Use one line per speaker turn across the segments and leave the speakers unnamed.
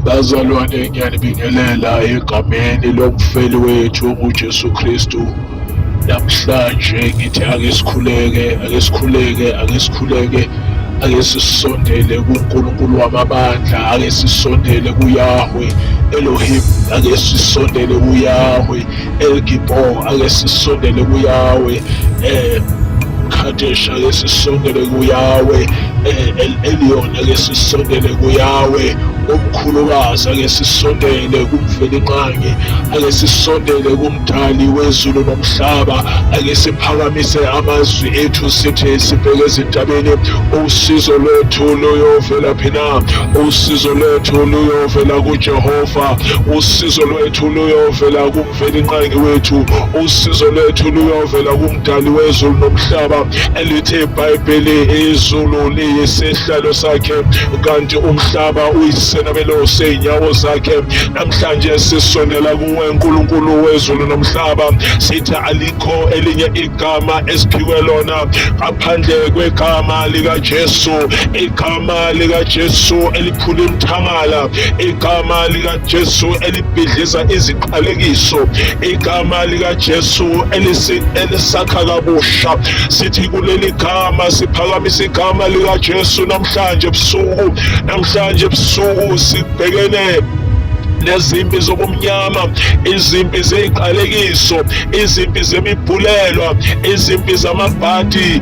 Bazalwane, ngiyanibingelela egameni lomfeli wethu onguJesu Kristu. Namhlanje ngithi ake sikhuleke, ake sikhuleke, ake sikhuleke, ake sisondele kuNkulunkulu wamabandla, ake sisondele kuYahweh Elohim, ake sisondele kuYahweh. El Gibor ake sisondele kuyawe eh Kadesh ake sisondele kuyawe eh, El Elyon ake sisondele kuyawe umkhulukazi ake sisondele kumvelinqangi ake sisondele kumdali wezulu nomhlaba ake siphakamise amazwi ethu sithi sibheke ezintabeni usizo lwethu luyovela phina usizo lwethu luyovela kujehova usizo lwethu wethu luyovela kumvelinqangi wethu usizo lwethu luyovela kumdali wezulu nomhlaba elithi ibhayibheli izulu liyisihlalo sakhe kanti umhlaba uyisenabelo sey'nyawo zakhe namhlanje sisondela kuwe nkulunkulu wezulu nomhlaba sithi alikho elinye igama esiphiwe lona ngaphandle kwegama likajesu igama likajesu eliphula imthangala igama lika Jesu elibhidliza iziqalekiso igama lika Jesu elisi elisakha kabusha sithi kuleli gama siphakamisa igama lika Jesu namhlanje ebusuku namhlanje ebusuku sibhekene nezimpi zobumnyama izimpi zeziqalekiso izimpi zemibhulelwa izimpi zamabhadi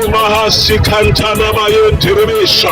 Mahasi kantana bayo dirimesha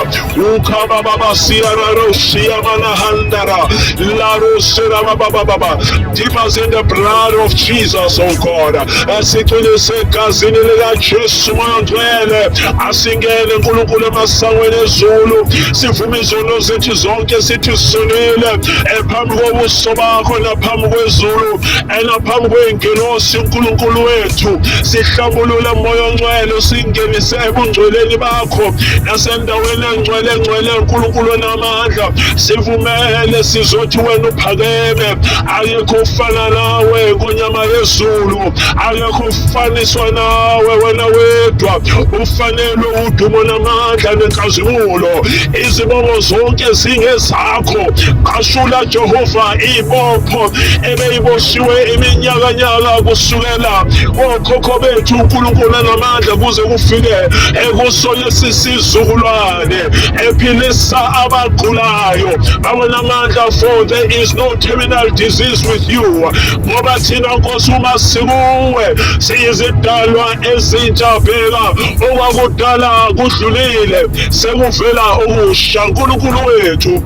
ukaba baba siara roshia manahandara la rosera baba baba deep us in the blood of Jesus oh God asithunyise egazini lika Jesu moya ngcwele asingene uNkulunkulu emasangweni ezulu sivume izono zethu zonke sithi sonile ephambi kobuso bakho naphambi kwezulu Ena phambi kwey'ngilosi uNkulunkulu wethu sihlabulula moya ongcwele usingenise ebungcweleni bakho nasendaweni engcwele ngcwele uNkulunkulu onamandla sivumele sizothi wena uphakeme ayekho ufana nawe kunyama yezulu ayekho ufaniswa nawe wena wedwa ufanelwe udumo namandla nenkazimulo izibongo zonke zingezakho qashula jehova ibopho beyiboshiwe iminyakanyaka kusukela kokhokho bethu uNkulunkulu anamandla kuze kufike ekusona sisizukulwane ephilisa abagulayo awenamandla for there is no terminal disease with you ngoba thina nkosi uma sikuwe siyizidalwa ezintsha bheka okwakudala kudlulile sekuvela okusha nkulunkulu wethu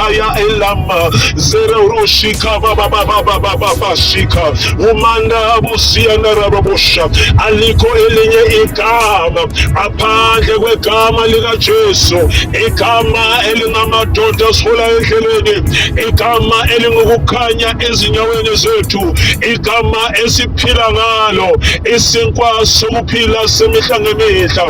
Aya elama zero rushika baba baba baba baba shika umanda abusiya narabosha aliko elinye igama aphandle kwegama lika Jesu igama elinamadoda asifula endleleni igama elingukukhanya ezinyaweni zethu igama esiphila ngalo isinkwa sokuphila isiphila semihla ngemihla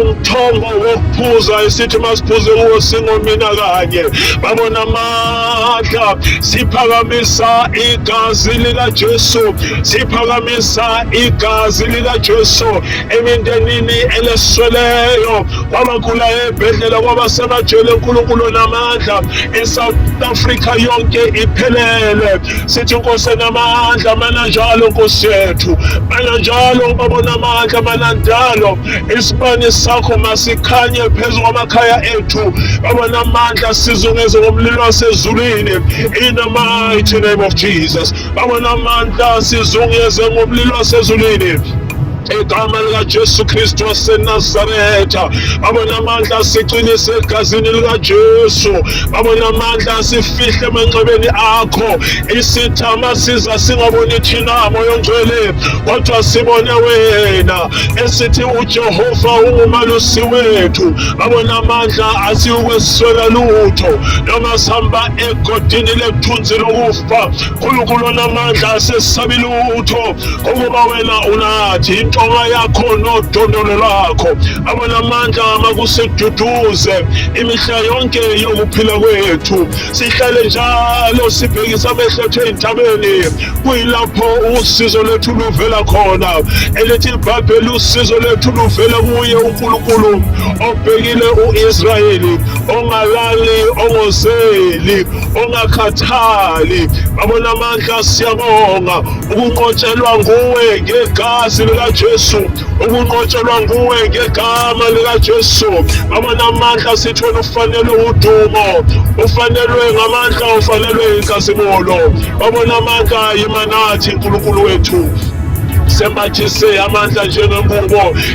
umthombo wokuphuza esithi masiphuze kuwo singomina kanye babona amandla siphakamisa igazi likajesu siphakamisa igazi likajesu emindenini elesweleyo kwabagula ebhedlela kwabasemajele unkulunkulu namandla esouth africa yonke iphelele sithi nkosi enamandla mana njalo nkosi yethu mana njalo baba onamandla mana njalo isibani sakho masikhanye phezu kwamakhaya ethu baba namandla sizungeze ngomlilo wasezulwini in the mighty name of jesus baba namandla sizungeze ngomlilo wasezulwini Igama likaJesu Kristu waseNazaretha, baba namandla asiqinise egazini likaJesu, baba namandla asifihle emanxebeni akho. Isithama siza singaboni thina moya ongcwele, kodwa sibone wena esithi uJehova ungumalusi wethu. Baba namandla asiwukweswela lutho, noma sihamba egodini lekuthunzi lokufa Yehova, uNkulunkulu onamandla asesisabi lutho, ukuba wena unathi intonga yakho nodondolo lwakho, abanamandla makusiduduze imihla yonke yokuphila kwethu, sihlale njalo sibhekisa amehlo ethu ezintabeni, kuyilapho usizo lwethu luvela khona, elithi ibhayibheli usizo lwethu luvela kuye uNkulunkulu obhekile u-Israyeli ongalali ongozeli ongakhathali babona amandla siyabonga ukunqotshelwa nguwe ngegazi likaJesu ukunqotshelwa nguwe ngegama likaJesu babona amandla sithole ufanelwe udumo ufanelwe ngamandla ufanelwe inkazimulo babona amandla yimanathi uNkulunkulu wethu sembathise amandla njengengubo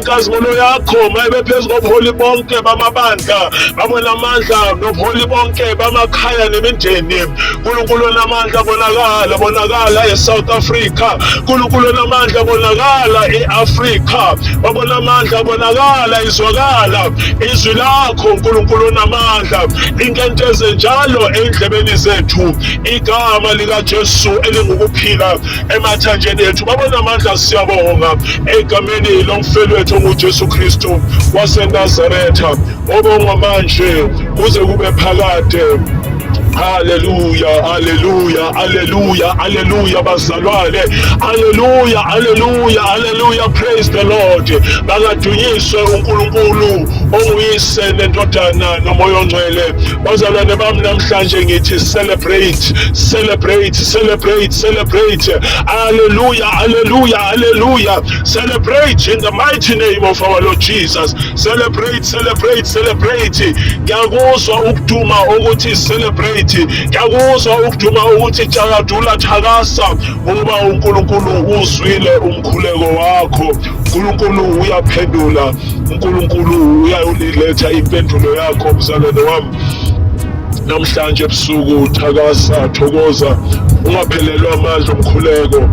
inkazimulo yakho mayibe phezu kobuholi bonke bamabandla babonamandla nobuholi bonke bamakhaya nemindeni nkulunkulu onamandla bonakala bonakala e-south africa nkulunkulu onamandla bonakala e-afrika babonamandla bonakala izwakala izwi lakho nkulunkulu onamandla inkenteze njalo endlebeni zethu igama likajesu elingukuphila emathanjeni ethu baba namandla siyabonga egameni lomfelwethu ongujesu kristu wasenazaretha obongwa manje kuze kube phakade Hallelujah, hallelujah, hallelujah, hallelujah, bazalwane. Hallelujah, hallelujah, hallelujah. Praise the Lord. Bakadunyiswe uNkulunkulu onguyise nendodana nomoya ongcwele. bazalwane bami namhlanje ngithi celebrate celebrate celebrate celebrate haleluya haleluya haleluya celebrate in the mighty name of our lord jesus celebrate celebrate celebrate ngiyakuzwa ukuduma ukuthi celebrate ngiyakuzwa ukuduma ukuthi thakadula thakasa ngoba unkulunkulu uzwile umkhuleko wakho unkulunkulu uyaphendula uNkulunkulu uyayoliletha impendulo yakho mzalwane wami namhlanje ebusuku thakasa thokoza ungaphelelwa amandla omkhuleko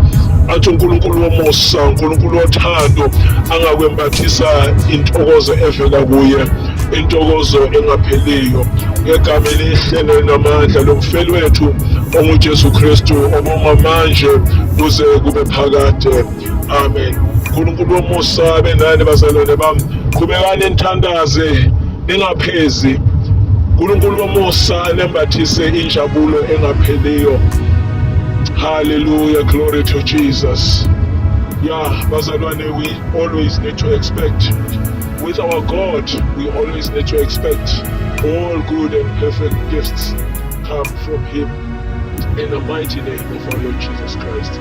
athi uNkulunkulu womusa uNkulunkulu wothando angakwembathisa intokozo evela kuye intokozo engapheliyo ngegama elihle nelinamandla lomfeli wethu onguJesu Kristu obonga manje kuze kube phakade amen unkulunkulu womusa abe nani bazalwane bami qhubekani nithandaze ningaphezi unkulunkulu womusa anembathise injabulo engapheliyo hallelujah glory to jesus yeah bazalwane we always need to expect with our god we always need to expect all good and perfect gifts come from him in the mighty name of our lord jesus christ